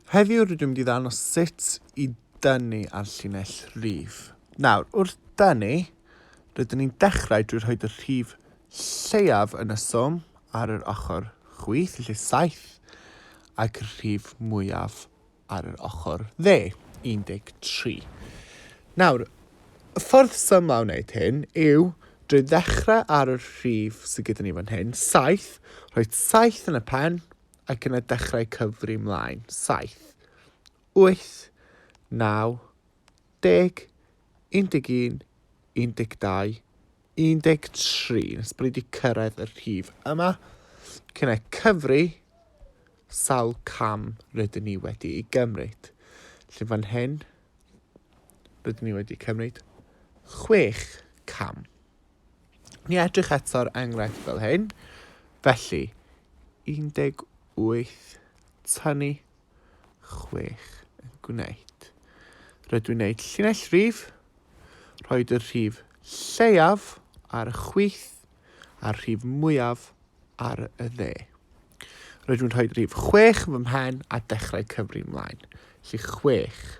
Heddiw rydw i'n mynd i ddangos sut i dynnu ar llinell rif. Nawr, wrth dynnu, rydyn ni'n dechrau drwy rhoi y rhif lleiaf yn y swm ar yr ochr chwith, lle 7, ac y rhif mwyaf ar yr ochr dde, 13. Nawr, y ffordd symlau o wneud hyn yw drwy ddechrau ar y rhif sydd gyda ni fan hyn, 7, rhoi 7 yn y pen, ac yna dechrau cyfri 'mlaen, saith, wyth, naw, deg, un deg un, un deg dau, un deg tri, nes bod ni wedi cyrraedd y rhif yma, ac yna cyfri sawl cam rydyn ni wedi ei gymryd. Felly fan hyn, rydyn ni wedi cymryd chwech cam. Ni edrych eto ar enghraifft fel hyn. Felly, 18 tynnu 6 yn gwneud. Rydw i'n gwneud llinell rhif, rhoi y rhif lleiaf ar y chwith a'r rhif mwyaf ar y dde. Rydw i'n rhoi rhif 6 fy mhen a dechrau cyfri mlaen. Lly 6.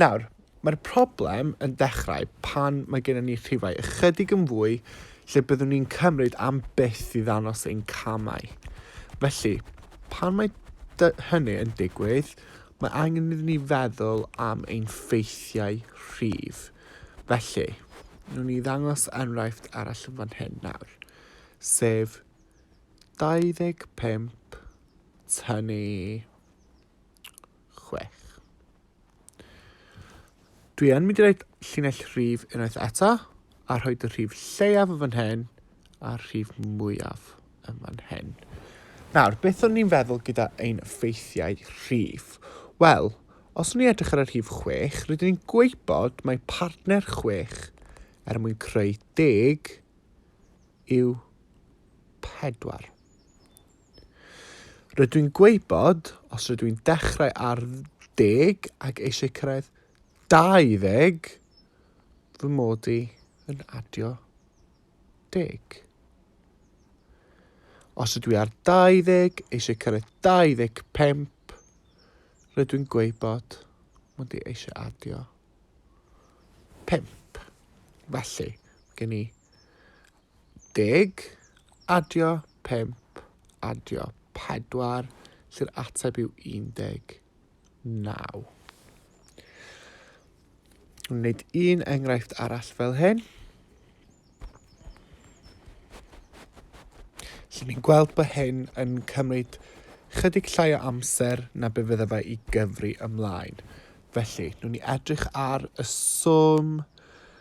Nawr, mae'r problem yn dechrau pan mae gennym ni rhifau ychydig yn fwy lle byddwn ni'n cymryd am byth i ddanos ein camau. Felly, pan mae hynny yn digwydd, mae angen iddyn ni feddwl am ein ffeithiau rhif. Felly, nhw'n ni ddangos enghraifft arall yn fan hyn nawr, sef 25 tynnu chwech. Dwi yn mynd i roed llinell rhif unwaith eto, a rhoi dy rhif lleiaf yn fan hyn, a'r rhif mwyaf yn fan hyn. Nawr, beth o'n i'n feddwl gyda ein ffeithiau rhif? Wel, os o'n i'n edrych ar y rhif chwech, rydyn ni'n gweibod mae partner chwech er mwyn creu deg yw pedwar. Rydw i'n gwybod, os rydw i'n dechrau ar ddeg ac eisiau cyrraedd 20, fy mod i yn adio deg. Os ydw i ar 20, eisiau cyrraedd 25, rydw i'n gwybod, mod i eisiau adio 5. Felly, gen i Deg, adio, pump, adio, pedwar, lle'r ateb yw 19. Wneud un enghraifft arall fel hyn. Felly ni'n gweld bod hyn yn cymryd chydig llai o amser na be fydda fe i gyfri ymlaen. Felly, nhw'n ni edrych ar y swm